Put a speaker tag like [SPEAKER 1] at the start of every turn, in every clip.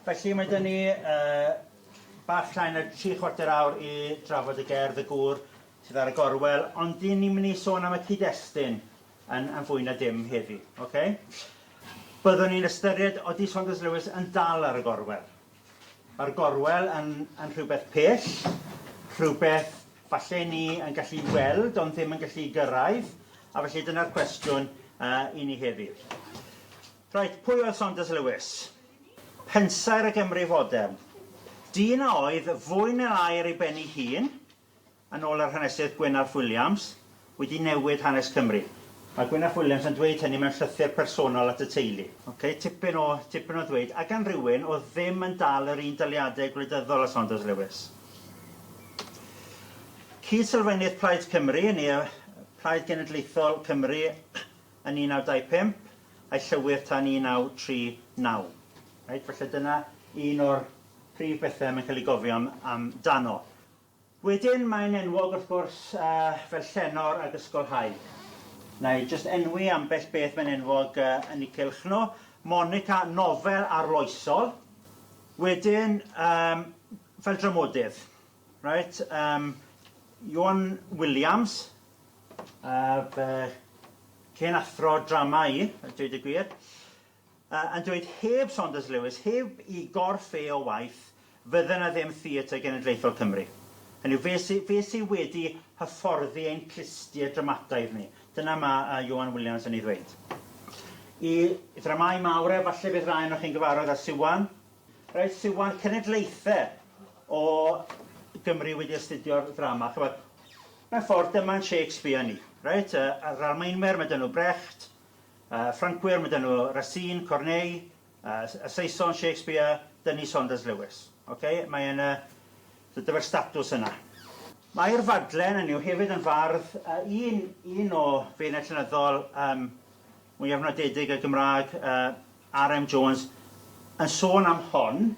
[SPEAKER 1] Felly mae 'da ni yy bach llai na tri chwarter awr i drafod y gerdd y gŵr sydd ar y gorwel ond dyn ni'n mynd i sôn am y cyd-destun yn yn fwy na dim heddi oce? Byddwn ni'n ystyried odi Saunders Lewis yn dal ar y gorwel. Mae'r gorwel yn yn rhywbeth pell, rhywbeth falle ni yn gallu weld ond ddim yn gallu gyrraedd a felly dyna'r cwestiwn yy i ni heddi. Reit, pwy oedd Saunders Lewis? Pensaer y Gymru fodern. Dyn a oedd, fwy neu lai ar ei ben ei hun, yn ôl yr hanesydd Gwyn ap Williams, wedi newid hanes Cymru. Mae Gwyn ap Williams yn dweud hynny mewn llythyr personol at y teulu. Ok, tipyn o, tipyn o ddweud. A gan rywun oedd ddim yn dal yr un daliadau gwleidyddol â Saunders Lewis. Cyd-sylfaenydd Plaid Cymru, neu y Plaid Genedlaethol Cymru, yn 1925 a'i llywydd tan 1939. Reit, falle dyna un o'r prif bethe mae'n cael ei gofio'n am dano. Wedyn mae'n enwog wrth gwrs fel llenor ag ysgolhaig. Na'i jyst enwi ambell beth mae'n enwog yn ei cylch nhw. Monica, nofel arloesol. Wedyn yym fel dramodydd. Reit, yym Iwan Williams, A fy hen athro drama i, a dweud y gwir. A, a dweud heb Saunders Lewis, heb i gorff e o waith, fydde 'na ddim Theatr Genedlaethol Cymru. Hynny yw, fe sy, fe sy wedi hyfforddi ein clustiau dramataidd ni. Dyna ma a Ioan Williams yn ei ddweud. I ddramâu mawr e, falle bydd rai onoch chi'n gyfarwydd â Siwan, Reit, sydd wan cenedlaethau o Gymru wedi astudio'r ddrama, chybod, mewn ffordd dyma'n Shakespeare ni, reit, y, yr Almaenwyr, mae dyn nhw Brecht, y Ffrancwyr, mae dyn nhw Racine, Corneille, y Saeson, Shakespeare, dyn ni Saunders Lewis. Okay? Mae yn y, dydy'r statws yna. Mae'r fadlen yn yw hefyd yn fardd, uh, un, un o feirniau llenyddol um, mwyaf nodedig y Gymraeg, yy, RM Jones, yn sôn am hon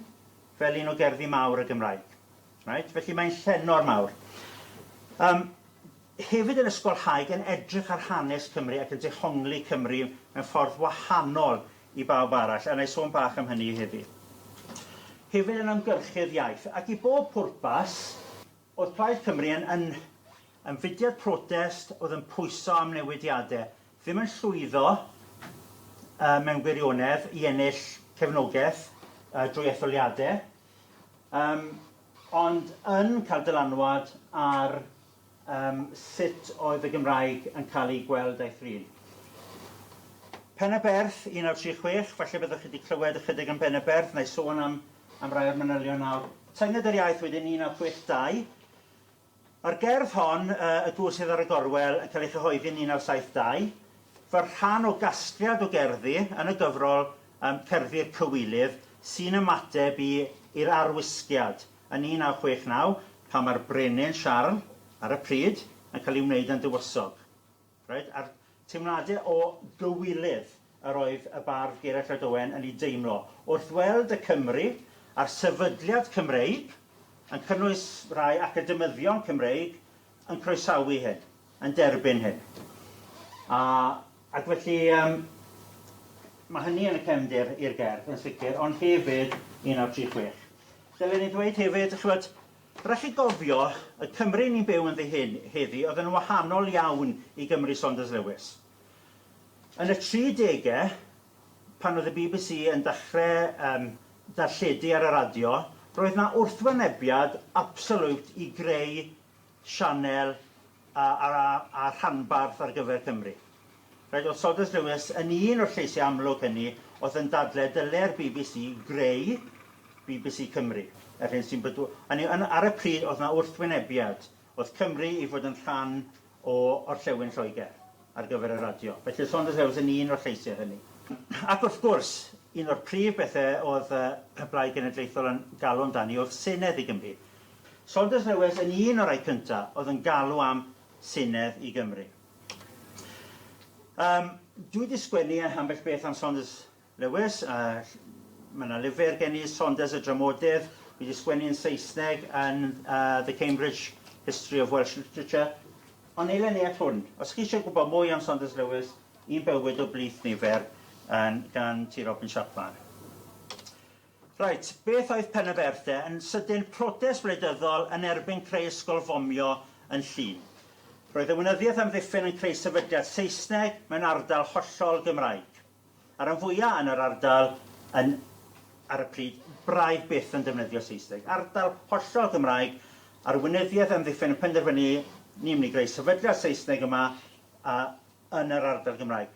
[SPEAKER 1] fel un o gerddi mawr y Gymraeg. Right? Felly mae'n llenor mawr. Um, hefyd yn ysgolhaig yn edrych ar hanes Cymru ac yn dehongli Cymru mewn ffordd wahanol i bawb arall, a na i sôn bach am hynny hefyd. Hefyd yn ymgyrchydd iaith, ac i bob pwrpas, oedd Plaid Cymru yn, yn, yn fudiad protest oedd yn pwyso am newidiadau, ddim yn llwyddo mewn gwirionedd i ennill cefnogaeth drwy etholiadau, ond yn cael dylanwad ar sut oedd y Gymraeg yn cael ei gweld a'i thrin. Pen-y-berth, 1936, falle byddwch chi wedi clywed ychydig am Pen-y-berth, nai sôn am rai o'r manylion nawr. Tynged yr iaith wedyn, 1982. Mae'r gerdd hon, Y Gŵr sydd ar y Gorwel, yn cael ei chyhoeddi yn 1972, fel rhan o gasgliad o gerddi yn y gyfrol um, Cerddi'r Cywilydd, sy'n ymateb i i'r arwisgiad yn 1969, pan mae'r brenin Siarl, ar y pryd, yn cael ei wneud yn dywysog. Reit, a'r teimlade o gywilydd yr oedd y bardd Gerallt Lloyd Owen yn eu deimlo, wrth weld y Cymry, a'r sefydliad Cymreig, yn cynnwys rhai academyddion Cymreig, yn croesawu hyn, yn derbyn hyn. A, ac felly, yym, mae hynny yn y cefndir i'r gerdd, yn sicr, ond hefyd 1936. Dylen i ddweud hefyd, chibod, Rhaid chi gofio, y Cymru ni'n byw ynddi hyn heddi oedd yn wahanol iawn i Gymru Saunders Lewis. Yn y tri degau, pan oedd y bbc yn dechrau um, darlledu ar y radio, roedd na wrthwynebiad absoliwt i greu sianel a a a rhanbarth ar gyfer Cymru. Rhaid oedd Saunders Lewis yn un o'r lleisiau amlwg hynny oedd yn dadle dyle'r bbc greu bbc Cymru, yr hyn sy'n bydw-. Hynny yw, yn, ar y pryd oedd yna wrthwynebiad, oedd Cymru i fod yn rhan o orllewin Lloegr ar gyfer y radio. Felly oedd Saunders Lewis yn un o'r lleisiau hynny. Ac wrth gwrs, un o'r prif bethau oedd y Blaid Genedlaethol yn galw amdani oedd Senedd i Gymru. Saunders Lewis yn un o rai cynta oedd yn galw am Senedd i Gymru. Yym, dwi wedi sgwennu ambell beth am Saunders Lewis, a mae yna lyfr gen i, Saunders y Dramodydd, dwi wedi sgwennu yn Saesneg yn uh, The Cambridge History of Welsh Literature, ond eilen ni at hwn. Os chi eisiau gwybod mwy am Saunders Lewis, un bywyd o blith nifer, gan T. Robin Chapman. Reit, beth oedd Penaberth de? Yn sydyn, protest wleidyddol yn erbyn creu ysgol fomio yn Llŷn. Roedd y Weinyddiaeth Amddiffyn yn creu sefydliad Saesneg mewn ardal hollol Gymraeg. A rhan fwya' yn yr ardal yn, ar y pryd, braidd byth yn defnyddio Saesneg. Ardal hollol Gymraeg, a'r Weinyddiaeth Amddiffyn yn penderfynu, ni'n mynd i greu sefydliad Saesneg yma a yn yr ardal Gymraeg.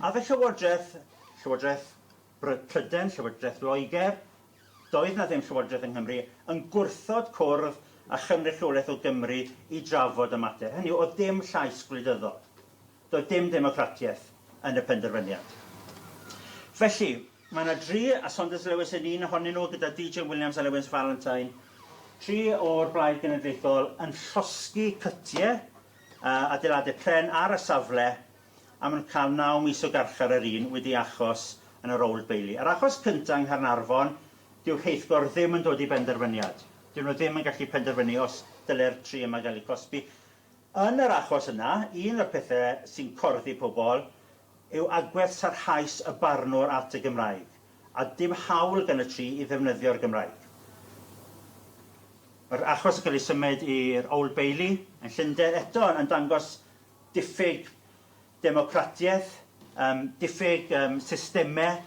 [SPEAKER 1] Aeth y Llywodraeth, Llywodraeth Roedd Prydain, Llywodraeth Loegr, doedd 'na ddim Llywodraeth yng Nghymru, yn gwrthod cwrdd â chynrychiolaeth o Gymru i drafod y mater. Hynny yw, oedd dim llais gwleidyddol. Doedd dim democratiaeth yn y penderfyniad. Felly, mae 'na dri, a Saunders Lewis yn un ohonyn nhw gyda DJ Williams a Lewis Valentine, tri o'r Blaid Genedlaethol yn llosgi cytie, adeiladau pren ar y safle, am yn cael naw mis o garchar yr un wedi ei achos yn yr Old Bailey. Yr achos cyntaf yng Nghaernarfon, dyw rheithgor ddim yn dod i benderfyniad. Dyn nhw ddim yn gallu penderfynu os dylai'r tri yma gael eu cosbi. Yn yr achos yna, un o'r pethau sy'n corddi pobl yw agwedd sarhaus y barnwr at y Gymraeg, a dim hawl gan y tri i ddefnyddio'r Gymraeg. Mae'r achos yn cael ei symud i'r Old Bailey yn Llundain, eto yn dangos diffyg democratiaeth, yym diffyg yym systemau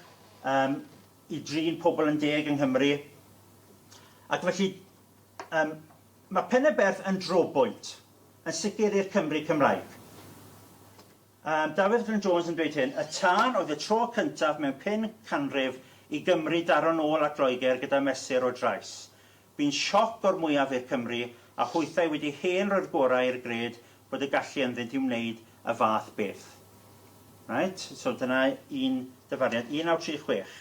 [SPEAKER 1] yym i drin pobl yn deg yng Nghymru, ac felly yym mae Pen-y-berth yn drobwynt, yn sicr i'r Cymry Cymraeg. Yym Dafydd Glyn Jones yn dweud hyn, Y tân oedd y tro cyntaf mewn pum canrif i Gymru daro'n ôl at Loegr gyda mesur o drais. Bu'n sioc o'r mwyaf i'r Cymry a hwythau wedi hen roi'r gorau i'r gred bod y gallu ynddynt i wneud y fath beth. Reit, so dyna un dyfariad, 1936.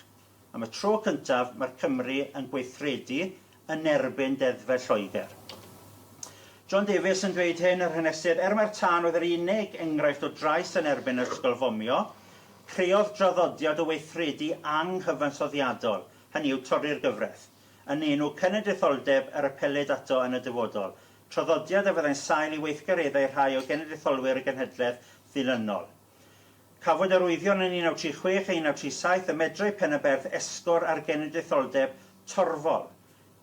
[SPEAKER 1] Am y tro cyntaf mae'r Cymry yn gweithredu yn erbyn deddfau Lloegr. John Davies yn dweud hyn, yr hanesydd, Er mai'r tân oedd yr unig enghraifft o drais yn erbyn yr ysgol fomio, creodd draddodiad o weithredu anghyfansoddiadol, hynny yw torri'r gyfraith. yn enw cenedlaetholdeb yr apelid ato yn y dyfodol, traddodiad a fyddai'n sail i weithgareddau rhai o genedlaetholwyr y genhedlaeth ddilynol. Cafwyd arwyddion yn 1936 a 1937 y medrai Pen-y-berth esgor ar genedlaetholdeb torfol.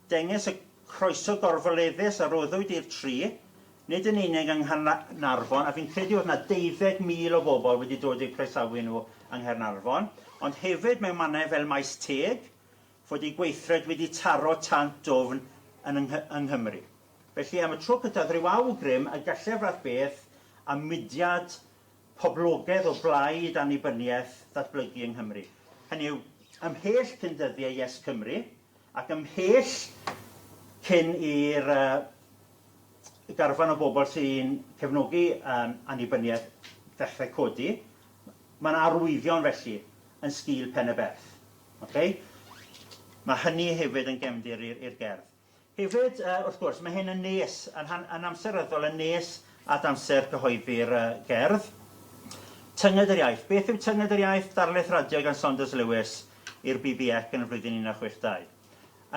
[SPEAKER 1] Dengys y croeso gorfoleddus a roddwyd i'r tri, nid yn unig yng Nghaernarfon, a fi'n credu oedd 'na deuddeg mil o bobl wedi dod i'w croesawu nhw yng Nghaernarfon, ond hefyd mewn mannau fel Maes Teg, fod ei gweithred wedi taro tant dwfn yn yng Nghymru. Felly, am y tro cyntaf, rhyw awgrym y gallai'r fath beth a mudiad poblogedd o blaid annibyniaeth ddatblygu yng Nghymru. Hynny yw, ymhell cyn dyddiau Yes Cymru, ac ymhell cyn i'r garfan o bobl sy'n cefnogi annibyniaeth ddechrau codi, mae yna arwyddion felly yn sgil Pen-y-berth. Oce? Mae hynny hefyd yn gefndir i'r i'r gerdd. Hefyd, yy, wrth gwrs, mae hyn yn nes, yn han- yn amseryddol yn nes at amser cyhoeddi'r yy gerdd. Tynged yr iaith. Beth yw tynged yr iaith? Darlith radio gan Saunders Lewis i'r BBEC yn y flwyddyn 1962.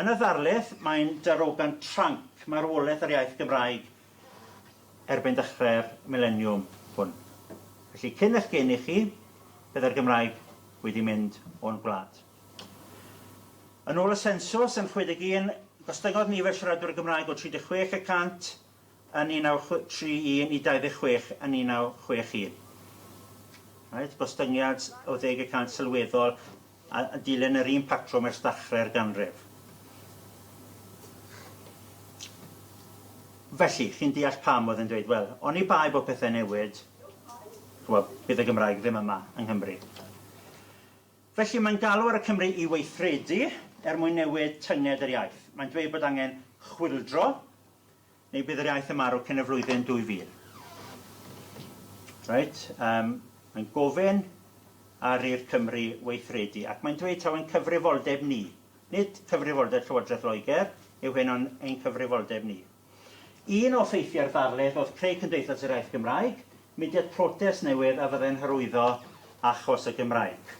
[SPEAKER 1] Yn y ddarlith, mae'n darogan tranc marwolaeth yr iaith Gymraeg erbyn dechrau'r mileniwm hwn. Felly, cyn eich geni chi, byddai'r Gymraeg wedi mynd o'n gwlad. Yn ôl y sensws yn 61, gostyngodd nifer siaradwyr y Gymraeg o 36 y cant yn 1931 i 26 yn 1961. Right, gostyngiad o ddeg y cant sylweddol. a dilyn yr un patrwm ers dachrau'r ganrif. Felly, chi'n deall pam oedd yn dweud, wel, oni bai bod pethau newid, chwa, bydd y Gymraeg ddim yma yng Nghymru. Felly mae'n galw ar y Cymry i weithredu er mwyn newid tynged yr iaith. Mae'n dweud bod angen chwildro, Neu bydd yr iaith yn marw cyn y flwyddyn 2000. Reit, um, mae'n gofyn ar i'r Cymru weithredu, ac mae'n dweud taw ein cyfrifoldeb ni, nid cyfrifoldeb Llywodraeth Loegr, yw hyn ond ein cyfrifoldeb ni. Un o ffeithiau'r ddarlith oedd creu Cymdeithas yr Iaith Gymraeg, mudiad protest newydd a fyddai'n hyrwyddo achos y Gymraeg.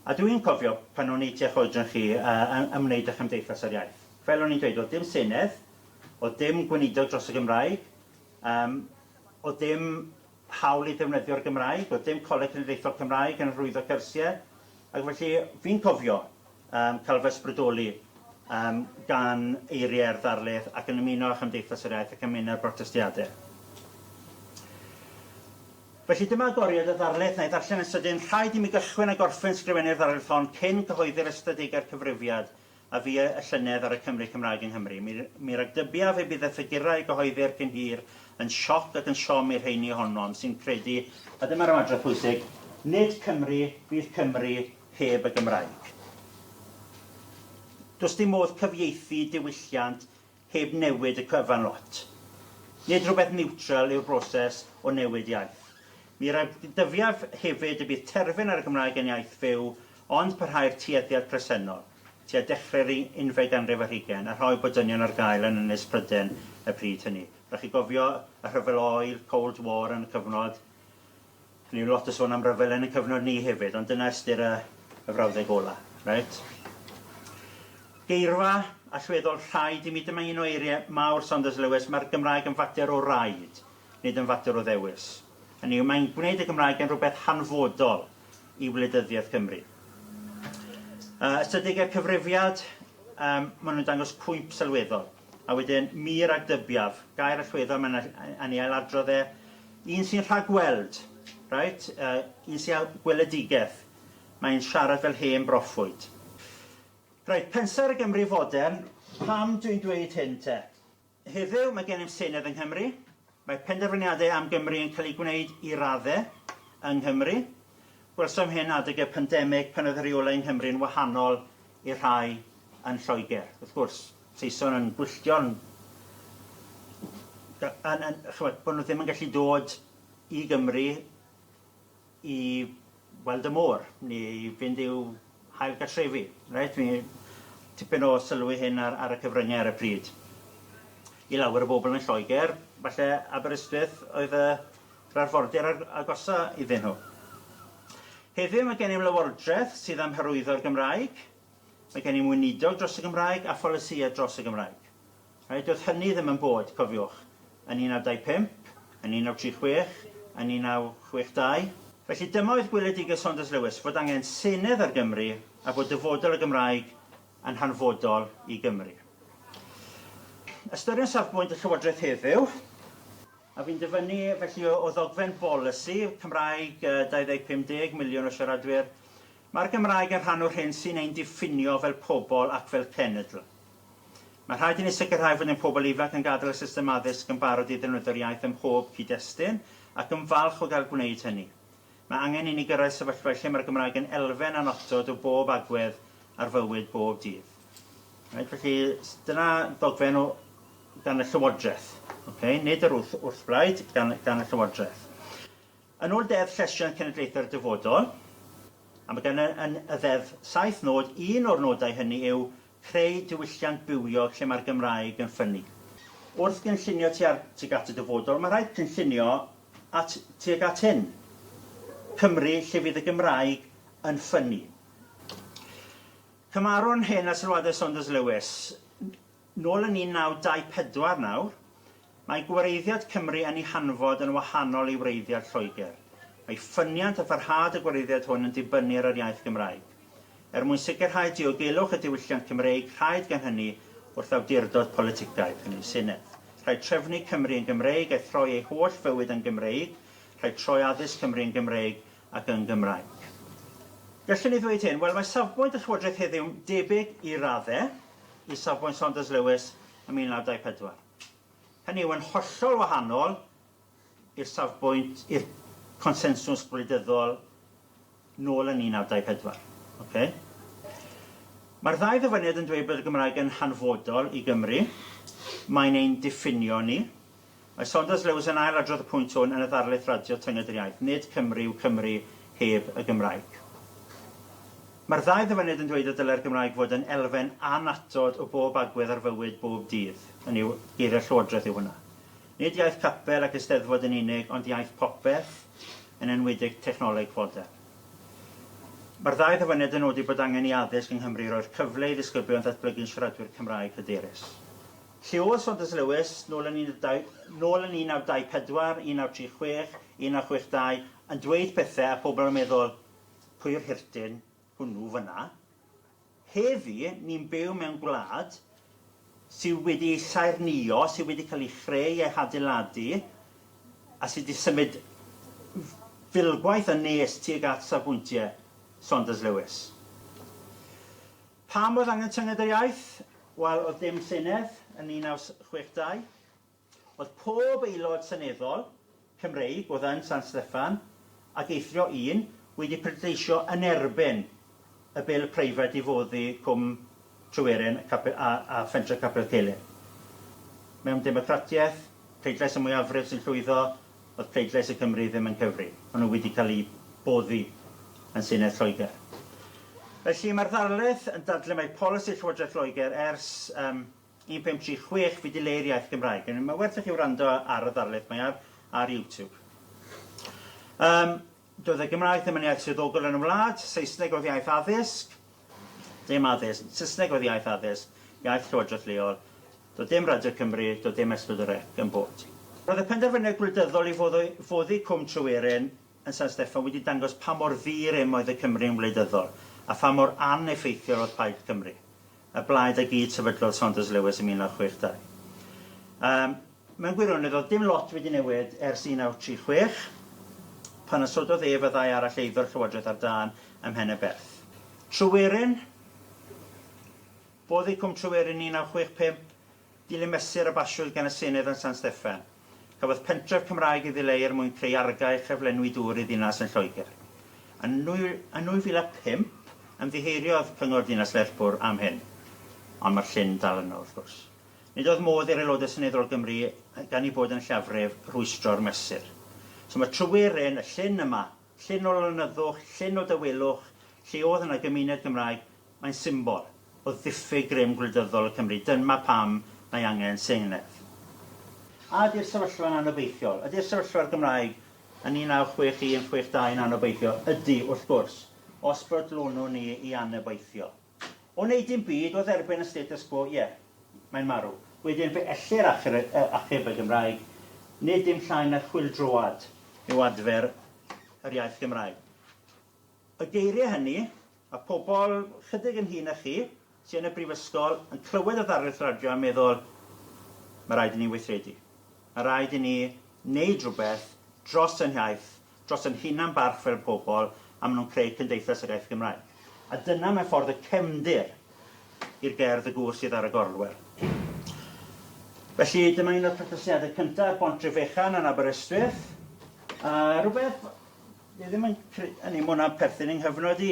[SPEAKER 1] A dwi'n cofio pan o'n i tua choedran chi uh, ymwneud â Chymdeithas yr Iaith. Fel o'n i'n dweud, o'dd dim Senedd, o'dd dim gweinidog dros y Gymraeg, yym o'dd dim hawl i ddefnyddio'r Gymraeg, o'dd dim Coleg Cenedlaethol Cymraeg yn hyrwyddo cyrsie, ac felly fi'n cofio yym cael fy ysbrydoli yym gan eiriau'r ddarlith ac yn ymuno â Chymdeithas yr Iaith ac yn mynd ar brotestiade. Felly dyma agoriad y ddarlith, na i ddarllen yn sydyn, Rhaid i mi gychwyn a gorffen sgrifennu'r ddarlith hon cyn cyhoeddi'r ystadegau'r cyfrifiad, a fu y llynedd ar y Cymry Cymraeg yng Nghymru. Mi, mi ragdybiaf y bydd y ffigurau a gyhoeddir cyn hir yn sioc ac yn siom i'r rheiny ohonom sy'n credu, a dyma'r ymadrodd pwysig, nid Cymru fydd Cymru heb y Gymraeg. Does dim modd cyfieithu diwylliant heb newid y cyfan lot. Nid rhywbeth niwtral yw'r broses o newid iaith. Mi radddyfiaf hefyd y bydd terfyn ar y Gymraeg yn iaith fyw, ond parhau'r tueddiad presennol, tua dechrau'r unfed ganrif ar hugain, a rhoi bod dynion ar gael yn Ynys Prydain y pryd hynny. Rhaid chi gofio y rhyfel oer, Cold War, yn y cyfnod. Dwi ddim lot o sôn am ryfel yn y cyfnod ni hefyd, ond dyna ystyr y y frawddeg ola. Reit? Geirfa allweddol rhaid i mi, dyma un o eirie mawr Saunders Lewis, mae'r Gymraeg yn fater o raid, nid yn fater o ddewis. Hynny yw, mae'n gwneud y Gymraeg yn rhywbeth hanfodol i wleidyddiaeth Cymru. Uh, ystadegau'r cyfrifiad, um, maen nhw'n dangos cwymp sylweddol. A wedyn, mir ag dybiaf, gair allweddol mae'n anni ailadrodd e, Un sy'n rhagweld. Reit? Uh, un sy'n â gweledigaeth. Mae'n siarad fel hen broffwyd. Reit, pensaer y Gymru fodern, pam dwi'n dweud hyn te? Heddiw mae gennym Senedd yng Nghymru, mae penderfyniadau am Gymru yn cael eu gwneud i radde yng Nghymru. Gwelsom hyn adeg y pandemig pan oedd y rheolau yng Nghymru'n wahanol i'r rhai yn Lloegr, wrth gwrs. Saeson yn gwylltio'n... yn... yn... ch'mod, bod nhw ddim yn gallu dod i Gymru i weld y môr, neu i fynd i'w hail gartrefi. Reit, mi... tipyn o sylw i hyn ar ar y cyfryngau ar y pryd. I lawer o bobl yn Lloegr, falle Aberystwyth oedd y yr arfordir a'r agosa iddyn nhw. Heddiw mae gennym Lywodraeth sydd am hyrwyddo'r Gymraeg, mae gennym Weinidog dros y Gymraeg a pholisïau dros y Gymraeg. Rhaid doedd hynny ddim yn bod, cofiwch, yn 1925, yn 1936, yn 1962. Felly dyma oedd gweledigaeth Saunders Lewis, fod angen senedd ar Gymru a bod dyfodol y Gymraeg yn hanfodol i Gymru. Ystyriwn safbwynt y Llywodraeth heddiw. A fi'n dyfynnu felly o ddogfen bolisi Cymraeg 2050 deg miliwn o siaradwyr, mae'r Gymraeg yn rhan o'r hyn sy'n ein diffinio fel pobl ac fel cenedl. Mae rhaid i ni sicrhau fod ein pobl ifanc yn gadael y system addysg yn barod i ddefnyddio'r iaith ym mhob cyd-destun ac yn falch o gael gwneud hynny. Mae angen i ni gyrraedd sefyllfa lle mae'r Gymraeg yn elfen annotod o bob agwedd ar fywyd bob dydd. Right, felly, dyna ddogfen o gan y Llywodraeth. Okay? Nid yr wrth, wrthblaid, gan, gan y Llywodraeth. Yn ôl Deddf Llesiant Cenedlaethau'r Dyfodol, a mae gan y, yn y ddeddf saith nod, un o'r nodau hynny yw Creu diwylliant bywiog lle mae'r Gymraeg yn ffynnu. Wrth gynllunio tuar tuag at y dyfodol, mae'n rhaid cynllunio at tuag at hyn, Cymru lle fydd y Gymraeg yn ffynnu. Cymarwn hyn â sylwadau Saunders Lewis. Nôl yn 1924 nawr, Mae gwreiddiad Cymru yn ei hanfod yn wahanol i wreiddiad Lloegr. Mae ffyniant a pharhad y gwreiddiad hwn yn dibynnu ar yr iaith Gymraeg. Er mwyn sicrhau diogelwch y diwylliant Cymreig rhaid gan hynny wrth awdurdod politicaidd, hynny yw Senedd, rhaid trefnu Cymru yn Gymreig a throi ei holl fywyd yn Gymreig, rhaid troi addysg Cymru yn Gymreig ac yn Gymraeg. Gallwn ni ddweud hyn, wel mae safbwynt y Llywodraeth heddiw'n debyg i raddau i safbwynt Saunders Lewis yn 1924. Hynny yw, yn hollol wahanol i'r safbwynt, i'r consensws gwleidyddol nôl yn 1924. Ocê? Mae'r ddau ddyfyniad yn dweud bod y Gymraeg yn hanfodol i Gymru, mae'n ein diffinio ni. Mae Saunders Lewis yn ail-adrodd y pwynt hwn yn y ddarlith radio Tynged yr Iaith, Nid Cymru yw Cymru heb y Gymraeg. Mae'r ddau ddyfyniad yn dweud y dylai'r Gymraeg fod yn elfen annatod o bob agwedd ar fywyd bob dydd, hynny yw, geiriau'r Llywodraeth yw hwnna. Nid iaith capel ac eisteddfod yn unig, ond iaith popeth, yn enwedig technoleg fodern. Mae'r ddau ddyfyniad yn nodi bod angen i addysg yng Nghymru roi'r cyfle i ddisgyblion ddatblygu'n siaradwyr Cymraeg hyderus. Llywydd Saunders Lewis, nôl yn 1924, 1936, 1962, yn dweud pethau a phobl yn meddwl, Pwy'r hirtyn hwnnw fyna? Heddi, ni'n byw mewn gwlad sy wedi ei saernïo, sy wedi cael ei chreu a'i hadeiladu, a sy wedi symud filgwaith yn nes tuag at safbwyntiau Saunders Lewis. Pam oedd angen tynged yr iaith? Wel, oedd dim Senedd yn 1962. Oedd pob aelod seneddol, Cymreig, oedd yn San Steffan, ac eithrio un, wedi pleidleisio yn erbyn y bil preifat i foddi Cwm Tryweryn a Phentre Capel Celyn. Mewn democratiaeth, pleidlais y mwyafrif sy'n llwyddo, oedd pleidlais y Cymry ddim yn cyfri. Maen nhw wedi cael eu boddi yn Senedd Lloegr. Felly, mae'r ddarlith yn dadlau mai polisi Llywodraeth Loegr ers 1536 fidileu'r iaith Gymraeg. Anyway, mae werth i chi wrando ar y ddarlith, mae ar, ar YouTube. Um, doedd y Gymraeg ddim yn iaith swyddogol yn y wlad, Saesneg oedd iaith addysg, dim addysg, Saesneg oedd iaith addysg, iaith llywodraeth leol, doedd dim Radio Cymru, doedd dim S4C yn bod. Roedd y penderfyniad gwleidyddol i foddi Cwm Tryweryn yn San Steffan wedi dangos pa mor ddi-rym oedd y Cymry yn wleidyddol a pha mor aneffeithiol oedd Plaid Cymru, y blaid a gyd-sefydlodd Saunders Lewis yn 1962. Yym, mewn gwirionedd, oedd dim lot wedi newid ers 1936, pan ysododd ef a ddau arall eiddo'r llywodraeth ar dân ym Mhenyberth. Tryweryn, Boddi Cwm Tryweryn 1965, Dilyn mesur a basiwyd gan y Senedd yn San Steffan, cafodd pentref Cymraeg ei ddileu er mwyn creu argae a chyflenwi dŵr i ddinas yn Lloegr. Yn 2005, ymddiheuriodd Cyngor Dinas Lerpwl am hyn, ond mae'r llyn dal yno, wrth gwrs. Nid oedd modd i'r Aelodau Seneddol Gymru, gan eu bod yn lleiafrif, rwystro'r mesur. So mae Tryweryn, y llyn yma, llyn o lonyddwch, llyn o dawelwch, lle oedd yna gymuned Gymraeg, Mae'n symbol o ddiffyg grym gwleidyddol y Cymry. Dynma pam mae angen senedd. A ydy'r sefyllfa'n anobeithiol? Ydy'r sefyllfa'r Gymraeg yn 1961, 62 yn anobeithiol? Ydy, wrth gwrs, os brydlonwn ni i anobeithio. O wneud dim byd, o dderbyn y status quo, ie, mae'n marw. Wedyn, fe ellir achub y Gymraeg. Nid dim llai na chwyldroad yw adfer yr iaith Gymraeg. Y geiriau hynny, Mae pobl chydig yn hŷn na chi sy yn y brifysgol yn clywed y ddarlith radio a meddwl, Mae rhaid i ni weithredu. Mae rhaid i ni wneud rhywbeth dros ein hiaith, dros ein hunan-barch fel pobl, a maen nhw'n creu cymdeithas yr iaith Gymraeg. A dyna, mewn ffordd, y cefndir i'r gerdd 'Y Gŵr Sydd ar y Gorwel'. Felly, dyma un o'r protestiadau cyntaf ar Bont Drefechan yn Aberystwyth, a rhywbeth Dwi ddim yn cre- hynny, mae hwnna'n perthyn yng nghyfnod i.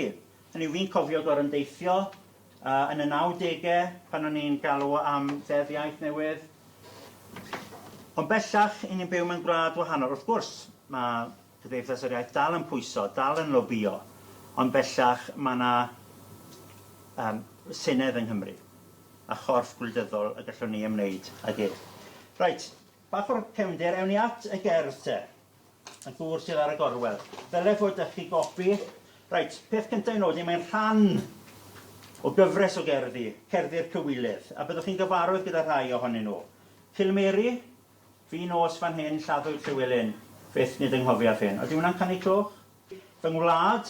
[SPEAKER 1] Hynny yw, fi'n cofio gorau'n deithio uh, yn y 90au pan o'n i'n galw am ddeddf iaith newydd. Ond bellach, i ni'n byw mewn gwlad wahanol. Wrth gwrs, mae Cymdeithas yr Iaith dal yn pwyso, dal yn lobio, ond bellach mae yna um, Senedd yng Nghymru a chorff gwleidyddol y gallwn ni ymwneud ag ef. Reit, bach o'r cefnder, ewn ni at y gerdd te. Y gŵr sydd ar y gorwel. Dyle fod â chi gopi. Reit, peth cyntaf i nodi, mae'n rhan o gyfres o gerddi, Cerddi'r Cywilydd, a byddwch chi'n gyfarwydd gyda rhai ohonyn nhw. Cilmeri, Fi nos fan hyn, lladdwyd Llywelyn, fyth nid ynghofiaf hyn. Odi hwnna'n canu clwch? Fy ngwlad,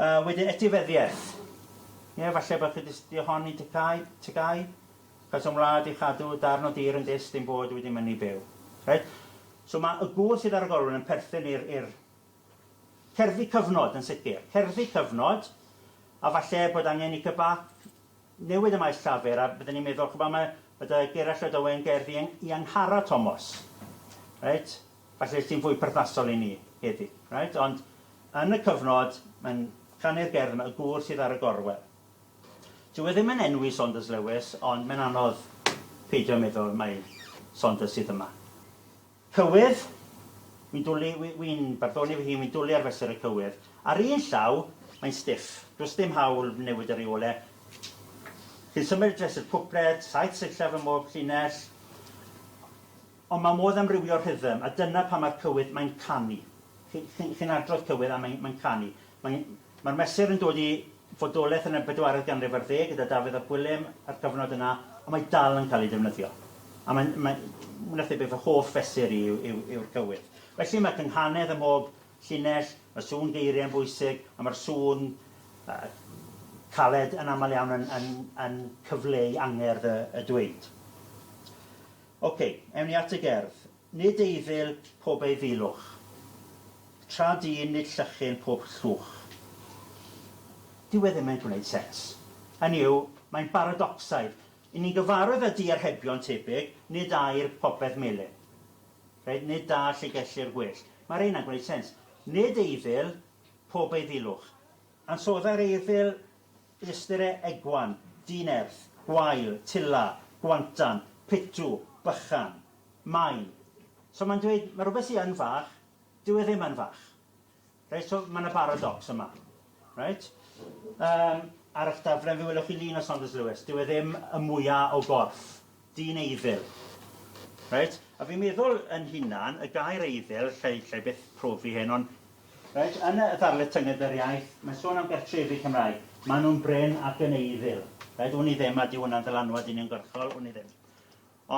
[SPEAKER 1] A wedyn etifeddiaeth. Ie, falle bod chi 'di astudio hon i TGAU, TGAU, cais am wlad i chadw darn o dir yn dyst ein bod wedi mynnu byw. Reit? So mae y gŵr sydd ar y golwyn yn perthyn i'r, i'r cerddi cyfnod yn sicr. Cerddi cyfnod, a falle bod angen i CBAC newid y maes llafur a bydden ni'n meddwl, ch'bo, mae, mae dy Gerallt Llydaw yn gerddi i Angharad Tomos. Reit? Falle sy'n fwy perthnasol i ni heddi. Reit? Ond yn y cyfnod, mae'n canu'r gerdd yma, y gŵr sydd ar y gorwel. Dyw e ddim yn enwi Saunders Lewis, ond mae'n anodd peidio meddwl mai Saunders sydd yma. Cywydd, wi'n dwlu, wi, wi'n barddoni fy hun, wi'n dwlu ar fesur y cywydd. Ar un llaw, mae'n stiff. Does dim hawl newid y rheole. Chi'n symud dres i'r cwpled, saith sillaf ym mhob llinell. Ond mae modd amrywio rhythm, a dyna pam mae'r cywydd, mae'n canu. Chi'n chi'n adrodd cywydd a mae'n mae'n canu. Mae mae'r mesur yn dod i fodolaeth yn y bedwaredd ganrif ar ddeg gyda Dafydd ap Gwilym a'r cyfnod yna, ond mae dal yn cael ei defnyddio, a mae'n mae'n mwy na thebyg fy hoff fesur i yw yw yw'r cywydd. Felly mae cynghanedd ym mhob llinell, mae sŵn geiriau yn bwysig, a mae'r sŵn yy caled yn aml iawn yn yn yn cyfleu angerdd y y dweud. Ok, ewn ni at y gerdd. Nid eiddil pob eiddilwch. Tra dyn nid llychyn pob llwch. Dyw e ddim yn gwneud sens. Hynny yw, mae'n baradocsaidd. I ni'n gyfarwydd â diarhebion tebyg, nid air popeth melyn. Reit, nid da lle gellir gwellt. Mae rheina'n gwneud sens. Nid eiddil pob eiddilwch. Ansoddai'r eiddil Ystyr e, egwan, dyn erth, gwael, tila, gwantan, pitw, bychan. Maen. So mae'n dweud, mae rhywbeth sydd yn fach, dyw e ddim yn fach. Reit, so mae yna baradocs yma. Reit? Um, ar eich daflen fe welwch chi lun o Saunders Lewis. Dyw e ddim y mwyaf o gorff. Dyn eiddil. Reit? A fi'n meddwl yn hunan, y gair eiddil, llai, llai byth profi hyn, ond, reit, yn y ddarlith Tynged yr Iaith, mae'n sôn am gartrefi Cymraeg. Maen nhw'n brin ac yn eiddil. Reit? Wn i ddim, a dyw hwnna'n ddylanwad uniongyrchol, wn i ddim.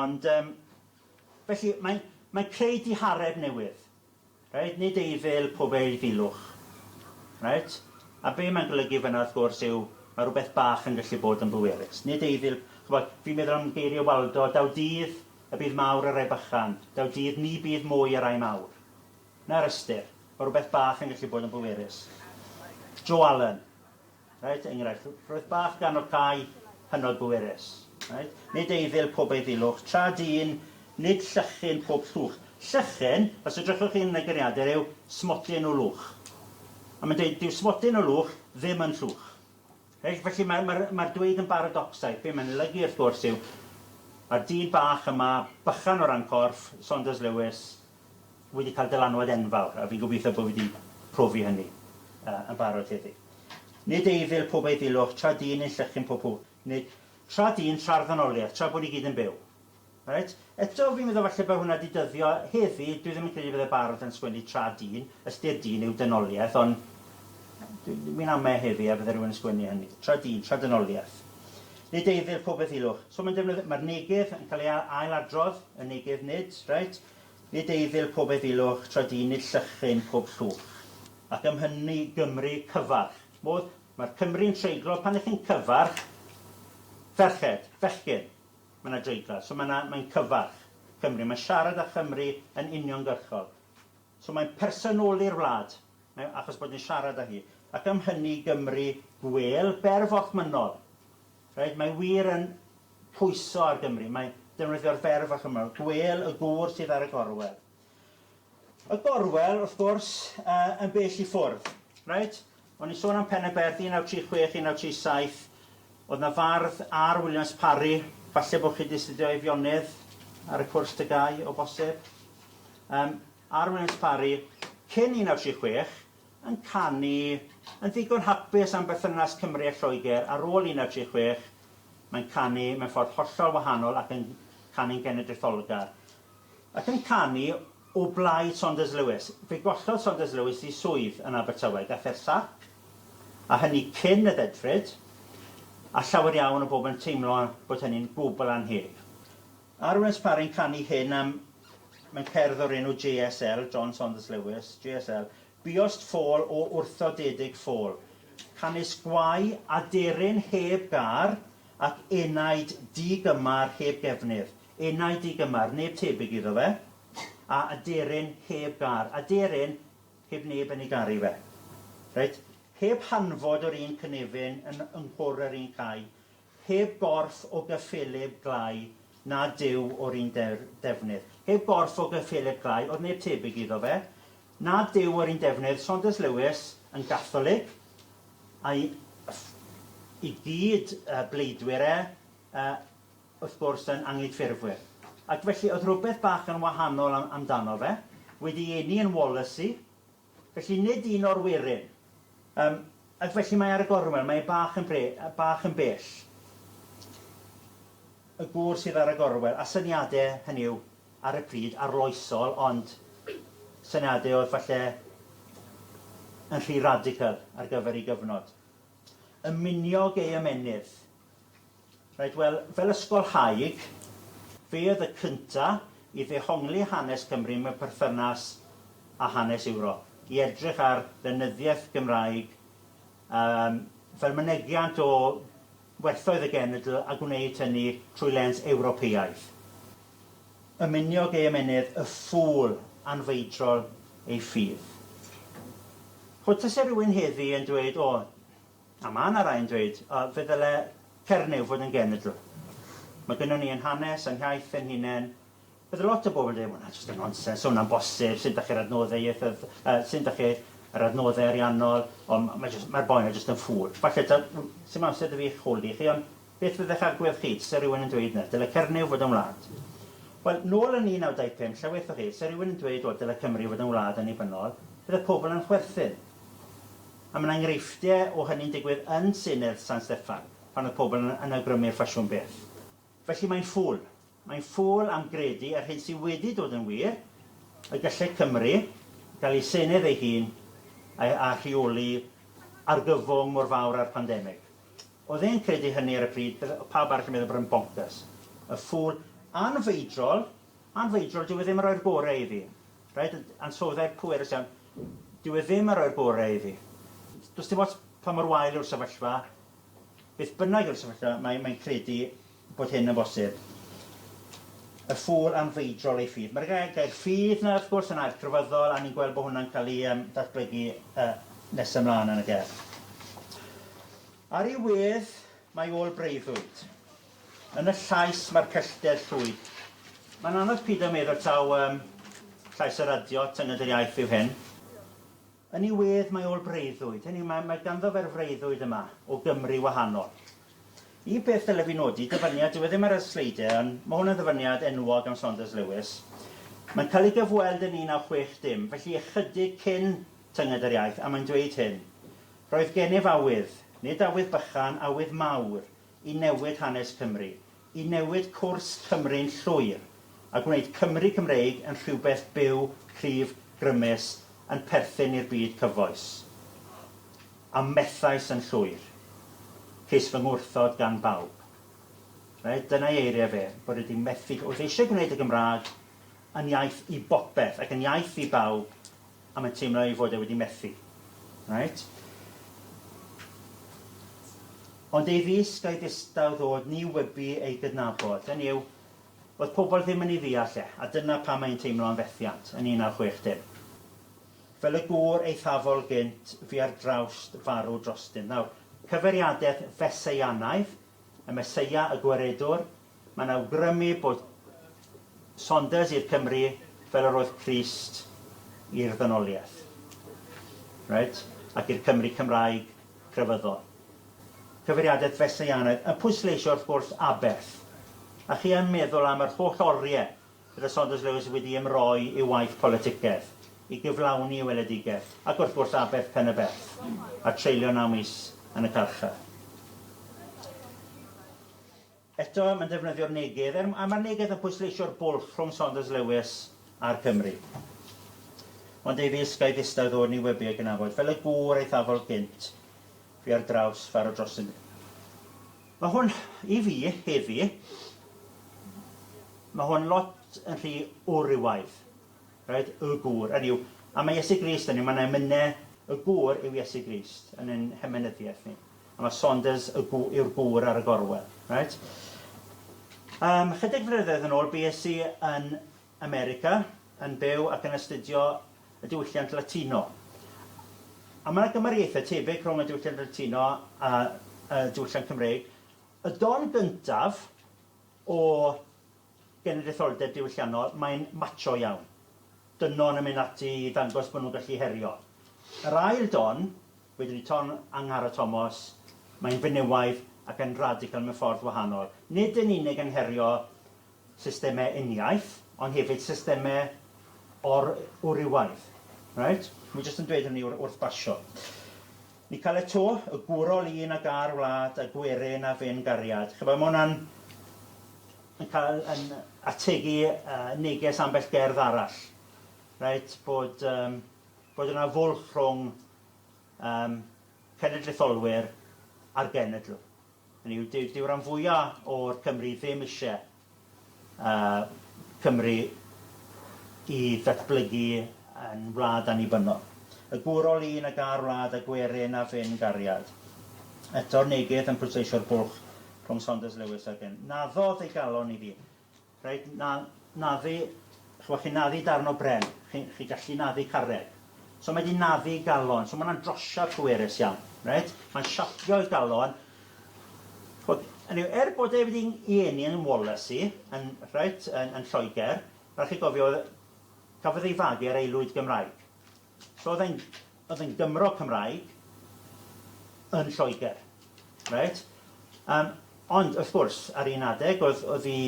[SPEAKER 1] Ond, yym, felly, mae'n, mae'n creu dihareb newydd. Reit, nid eifil, pob eilfilwch. Reit? A be mae'n golygu fyna wrth gwrs yw, mae rhywbeth bach yn gallu bod yn bwerus. Nid eifil, chybod, fi'n meddwl am geiriau Waldo, daw dydd y bydd mawr y rai bychan, daw dydd ni bydd mwy y rai mawr. Na'r ystyr. Mae rhywbeth bach yn gallu bod yn bwerus. Jo Allen. Reit, enghraifft, roedd bach gan o cae hynod bwerus. Reit? Nid eiddil pob eiddilwch, tra dyn, nid llychyn pob llwch. Llychyn, os edrychwch chi'n y geniadur, yw smodyn o lwch. A mae'n dweud, dyw smodyn o lwch ddim yn llwch. Reit? Felly mae'r ma ma dweud yn baradocsaidd. Be mae'n lygu, wrth gwrs, yw mae'r dyn bach yma, bychan o ran corff, Saunders Lewis, wedi cael dylanwad enfawr, a fi'n gobeithio bod fi 'di profi hynny yn barod heddi. Nid eiddil pob eiddilwch, tra dyn yn llychin pob hw, neu tra dyn, tra'r ddynoliaeth, tra bod ni gyd yn byw. Reit? Eto, fi'n meddwl falle bod hwnna 'di dyddio heddi, dwi ddim yn credu bydde barod yn sgwennu tra dyn, ystyr dyn yw dynoliaeth, ond mi'n ame heddi a bydde rhywun yn sgwennu hynny, tra dyn, tra dynoliaeth. Nid eiddil pob eiddilwch. So mae'n defnyddio, mae'r negev yn cael ei ail-adrodd, y negev nid, reit? Nid eiddil pob efilwch, tra dyn nid llychryn pob llwch. Ac am hynny Gymru cyfarch. Modd, mae'r Cymry'n treiglo, pan 'ych chi'n cyfarch ferched, bechgyn, mae 'na dreiglad. So mae 'na, mae'n cyfarch Cymru, mae'n siarad â Chymru yn uniongyrchol. So mae'n personoli'r wlad, mae, achos bod yn siarad â hi. Ac am hynny Gymru gwêl, berf orchmynnol. Reit, mae wir yn pwyso ar Gymru. Mae defnyddio'r fer fach yma, gwêl y gŵr sydd ar y gorwel. Y gorwel, wrth gwrs, uh, yn bell i ffwrdd. Right? O'n i sôn am Peneberth 1936, 1937, oedd na fardd ar Williams Parry, falle bod chi wedi astudio Eifionydd ar y cwrs tygau o bosib. Um, ar Williams Parry, cyn 1936, yn canu yn ddigon hapus am berthynas Cymru a Lloegr ar ôl 1936, mae'n canu mewn ffordd hollol wahanol ac yn canu'n genedlaetholgar. Ac yn canu o blaid Saunders Lewis. Fe gollodd Saunders Lewis ei swydd yn Abertawe, gath e'r sac, a hynny cyn y ddedfryd, a llawer iawn o bobl yn teimlo bod hynny'n gwbl annheg. Ar wnes Parin canu hyn am mewn cerdd o'r enw JSL, John Saunders Lewis, JSL, Buost ffôl o wrthodedig ffôl, canys gwae aderyn heb gar ac enaid di-gymar heb gefndir. Enaid di-gymar, neb tebyg iddo fe, a aderyn heb gar, aderyn heb neb yn ei garu fe. Reit? Heb hanfod yr un cynefin yn nghwr yr un cae, Heb gorff o gyffelyb glai na Duw o'r un defnydd. Heb gorff o gyffelyb glai, oedd neb tebyg iddo fe, na Duw o'r un defnydd, Saunders Lewis yn Gatholig, a'i i gyd bleidwyr e, wrth gwrs, yn Anghydffurfwyr. Ac felly, oedd rhywbeth bach yn wahanol amdano fe, wedi eni yn Wallasey, Felly nid un o'r werin. Yym, ac felly mae ar y gorwel, mae e bach yn bre- yy bach yn bell. Y gŵr sydd ar y gorwel, a syniade, hynny yw, ar y pryd, arloesol, ond syniade oedd falle yn rhy radical ar gyfer ei gyfnod. Y miniog ei ymennydd, Reit, wel, fel ysgolhaig, fe oedd y cynta' i ddehongli hanes Cymru mewn perthynas â hanes Ewrop, i edrych ar lenyddiaeth Gymraeg yym fel mynegiant o werthoedd y genedl a gwneud hynny trwy lens Ewropeaidd. Ymuniog ei ymennydd, y ffŵl anfeidrol ei ffydd. Ch'od, tase rywun heddi yn dweud, O, A mae yna rai'n dweud, o, fe ddyle Cernyw fod yn genedl. Mae gynnon ni ein hanes a'n hiaith ein hunain. Bydd lot o bobl yn dweud, 'Ma hwnna jyst yn nonsens, 'sa hwnna'n bosib, sut 'da chi'r adnoddau ieithydd- yy sut 'da chi yr adnoddau ariannol? O, ma' ma' jyst, mae'r boi 'na jyst yn ffŵl. Falle taw, w- sdim amser 'da fi eich holi chi, ond beth fyddech agwedd chi, tase rhywun yn dweud 'na, dyle Cernyw fod yn wlad? Wel, nôl yn 1925, lle waethoch chi, 'se rhywun yn dweud, o, dyle Cymru fod yn wlad annibynnol, bydde pobl yn chwerthin. A mae 'na enghreifftiau o hynny'n digwydd yn Senedd San Steffan, pan oedd pobl yn yn awgrymu'r ffasiwn beth. Felly mae'n ffwl. Mae'n ffwl am gredu yr hyn sydd wedi dod yn wir, y gallai Cymru gael ei Senedd ei hun a a rheoli argyfwng mor fawr â'r pandemig. Oedd e'n credu hynny ar y pryd, bydde pawb arall yn meddwl bod e'n boncyrs. Y ffwl anfeidrol, anfeidrol, dyw e ddim yn rhoi'r gorau i fi. Reit, ansoddair pwerus iawn. Dyw e ddim ar roi'r bore i fi. Does dim ots pa mor wael yw'r sefyllfa, beth bynnag yw'r sefyllfa, mae, mae'n credu bod hyn yn bosib. Y ffŵl anfeidrol ei ffydd. Mae'r gair, gair ffydd na, wrth gwrs, yn air crefyddol, a ni'n gweld bod hwnna'n cael ei um, datblygu uh, nes ymlaen yn y gerdd. Ar ei wedd, mae ôl breuddwyd. Yn y llais mae'r pellter llwyd. Mae'n anodd pido a meddwl taw um, llais y radio, tynged yr iaith yw hyn. Yn ei wedd mae ôl breuddwyd, hynny yw mae, mae ganddo fe'r freuddwyd yma o Gymru wahanol. Y peth dylai fi nodi, dyfyniad, dyw e ddim ar y sleidiau, ond mae hwn yn ddyfyniad enwog am Saunders Lewis. Mae'n cael ei gyfweld yn 1960, felly ychydig cyn tynged yr iaith, a mae'n dweud hyn. Roedd gennyf awydd, nid awydd bychan, awydd mawr, i newid hanes Cymru, i newid cwrs Cymru'n llwyr, a gwneud Cymru Cymreig yn rhywbeth byw, cryf, grymus, yn perthyn i'r byd cyfoes. A methais yn llwyr. Ces fy ngwrthod gan bawb. Reit, dyna'i eiriau fe, bod e 'di methu, wrth eisiau gwneud y Gymraeg yn iaith i bopeth, ac yn iaith i bawb, A mae'n teimlo ei fod e wedi methu. Reit? Ond ei risg a'i ddistaw ddod ni wybu ei gydnabod, hynny yw, oedd pobl ddim yn ei ddeall e, a dyna pam mae'n teimlo am fethiant, yn 1960. Fel y gŵr eithafol gynt fu ar drawst farw drostyn. Nawr, cyfeiriadaeth Fesseianaidd, y Meseia, y Gwaredwr, Mae'n awgrymu bod Saunders i'r Cymry fel yr oedd Crist i'r ddynoliaeth. Reit? Ac i'r Cymry Cymraeg crefyddol. Cyfeiriadaeth Wesleyanaidd yn pwysleisio wrth gwrs aberth. A chi yn meddwl am yr holl oriau bydde Saunders Lewis wedi ymroi i'w waith politicaidd i gyflawni ei weledigaeth, ac wrth gwrs aberth Penyberth, a treulio naw mis yn y carchar. Eto, mae'n defnyddio'r neges, er, a mae'r neges yn pwysleisio'r bwlch rhwng Saunders Lewis a'r Cymry. Ond Davies, gai ddistaw ddod ni wybu ei gynafod, fel y gŵr eithafol gynt, fi ar draws faro drostynt. Mae hwn, i fi, heddi, mae hwn lot yn rhy wrywaidd. Right? Y gŵr. Yn yw, a mae Iesu Grist yn yw, mae'n emynau, y gŵr yw Iesu Grist yn ein hemenyddiaeth ni. A mae Saunders y gw- yw'r gŵr ar y gorwel. Reit. Um, chydig flynyddoedd yn ôl, bues i yn America, yn byw ac yn astudio y diwylliant Latino. A mae yna gymariaethau tebyg rhwng y diwylliant Latino a y diwylliant Cymreig. Y don gyntaf o genedlaetholdeb diwylliannol, mae'n macho iawn. Dynon yn mynd ati i ddangos bod nhw'n gallu herio. Yr ail don, wedwn i ton Angharad Tomos, mae'n fenywaidd ac yn radical mewn ffordd wahanol. Nid yn unig yn herio systemau uniaith, ond hefyd systemau or-wrywaidd. Reit? Wi jyst yn dweud hynny wrth basio. Ni cael e to, y gwrol un ag a'r wlad a gwerin a fyn gariad. Chyba, mae hwnna'n yn cael yn ategu uh, neges ambell gerdd arall. Right, bod, um, bod yna fwlch rhwng um, cenedlaetholwyr a'r genedl. Hynny yw, dyw dyw ran fwya o'r Cymry ddim isie yy Cymru i ddatblygu yn wlad annibynnol. Y gwr o lun a gar wlad a gwerin a ffyn gariad. Eto'r neges yn pwysleisio'r bwlch rhwng Saunders Lewis a Gwyn. Naddodd ei galon iddi. Reit, na, naddu, chwa, chi'n naddu darn o bren, chi, chi gallu naddu carreg. So mae di naddu galon, so mae'n drosiad pwerus iawn, reit? Mae'n siapio i galon. Chwa, anyway, er bod e wedi i eni yn Wallasey, yn, reit, yn, yn Lloegr, rhaid chi gofio, cafodd ei fagu ar aelwyd Gymraeg. So oedd e'n oedd e'n Gymro Cymraeg yn Lloegr. Reit? Yym ond wrth gwrs ar un adeg oedd oedd 'i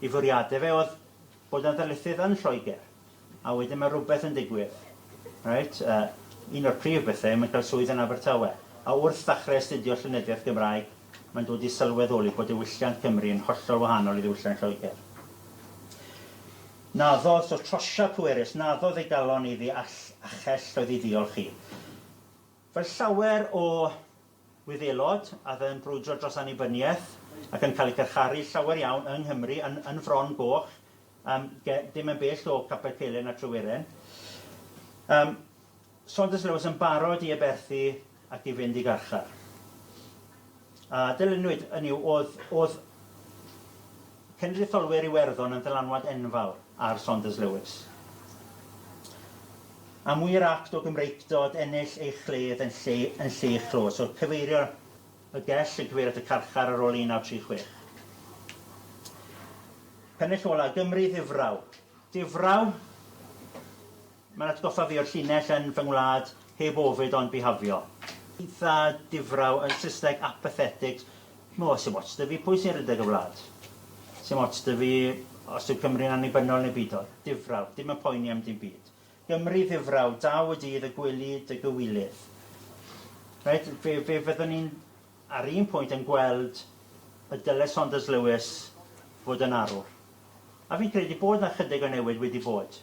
[SPEAKER 1] 'i fwriade fe oedd bod yn ddarlithydd yn Lloegr a wedyn mae rhywbeth yn digwydd. Reit? Yy un o'r prif bethe yw mae'n cael swydd yn Abertawe a wrth ddechrau astudio llenyddiaeth Gymraeg mae'n dod i sylweddoli bod diwylliant Cymru yn hollol wahanol i ddiwylliant Lloegr. Naddo, so trosiad pwerus, naddo ddeugalon iddi all a chell oedd i ddiolch i. Fel llawer o Wyddelod a'dd yn brwydro dros annibyniaeth ac yn cael eu carcharu llawer iawn yng Nghymru yn yn Fron Goch yym ge- dim yn bell o Capel Celyn a Tryweryn yym Saunders Lewis yn barod i aberthu ac i fynd i garchar. A dylunwyd, hynny yw, oedd, oedd cenedlaetholwyr Iwerddon yn ddylanwad enfawr ar Saunders Lewis. Am wir act o Gymreictod ennill ei chledd yn lle, yn lle ei chlôs, oedd cyfeirio y gell yn cyfeirio at y carchar ar ôl 1936. Pennill ola, Gymru ddifraw. Difraw? Mae'n atgoffa fi o'r llinell yn fy ngwlad heb ofid ond bihafio. Eitha difraw, yn Saesneg apathetic. Ch'mo', sim ots 'da fi pwy sy'n rhedeg y wlad. Sim ots 'da fi os yw Cymru'n annibynnol neu beidio. Difraw, dim yn poeni am dim byd. Gymru ddifraw, daw y dydd y gweli dy gywilydd. Reit, fe, fe fyddwn i'n ar un pwynt yn gweld y dyle Saunders Lewis fod yn arwr. A fi'n credu bod 'na chydig o newid wedi bod.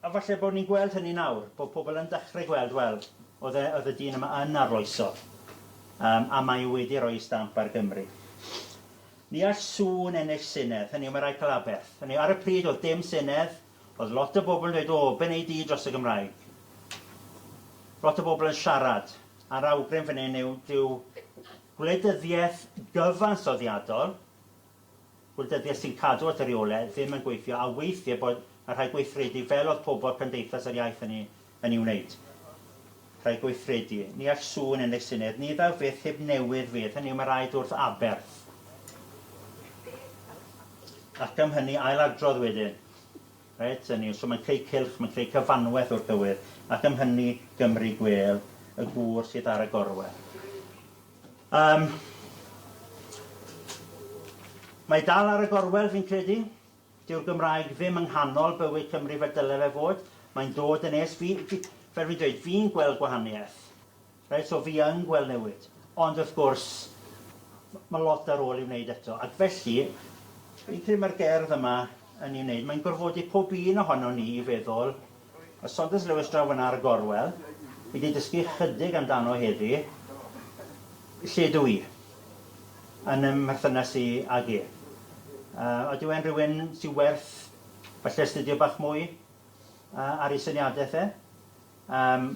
[SPEAKER 1] A falle bod ni'n gweld hynny nawr, bod pobl yn dechrau gweld, wel, oedd e, oedd y dyn yma yn arloesol, yym, a mae e wedi rhoi ei stamp ar Gymru. Ni all sŵn ennill Senedd, hynny yw, mae rhaid cael aberth. Hynny yw, ar y pryd oedd dim Senedd, oedd lot o bobl yn dweud, o, be wneud i dros y Gymraeg? Lot o bobl yn siarad, a'r awgrym fan hyn yw, dyw gwleidyddiaeth gyfansoddiadol, Wleidyddiaeth sy'n cadw at y rheolau ddim yn gweithio a weithie bod yn rhaid gweithredu fel oedd pobl cymdeithas yr iaith hynny yn ei wneud. Rhaid gweithredu. Ni all sŵn yn ei syniad. Ni ddaw fyth heb newydd fydd. Hynny yw mae rhaid wrth aberth. Ac am hynny ailadrodd wedyn. Reit, hynny yw, so mae'n creu cylch, mae'n creu cyfanwaith o'r cywydd, ac am hynny Gymru gwêl, y gŵr sydd ar y gorwel. Yym. Mae dal ar y gorwel fi'n credu. Dyw'r Gymraeg ddim yng nghanol bywyd Cymru fel dyle fe fod. Mae'n dod yn es. Fi, fi, fel fi'n dweud, fi'n gweld gwahaniaeth. Reit, so fi yn gweld newid. Ond wrth gwrs, mae lot ar ôl i wneud eto. Ac felly, fi'n credu mae'r gerdd yma yn ei wneud. Mae'n gorfodi pob un ohono ni i feddwl Ysoges Lewis draw fanna ar y gorwel i di dysgu chydig amdano heddi, lle dw i yn ym mherthynas i ag e. Uh, odyw e'n rhywun sy'n werth falle astudio bach mwy uh, ar ei syniadaeth e? Um,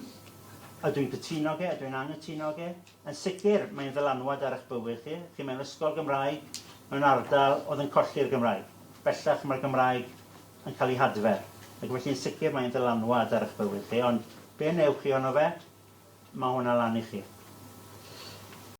[SPEAKER 1] ydw i'n cytuno ge, ydw i'n angytuno ge? Yn sicr, mae'n ddylanwad ar eich bywyd chi. Chi mewn ysgol Gymraeg, mewn ardal oedd yn colli'r Gymraeg. Bellach mae'r Gymraeg yn cael ei hadfer, ac felly yn sicr mae'n ddylanwad ar eich bywyd chi, ond be wnewch chi ohono fe, mae hwnna lan i chi.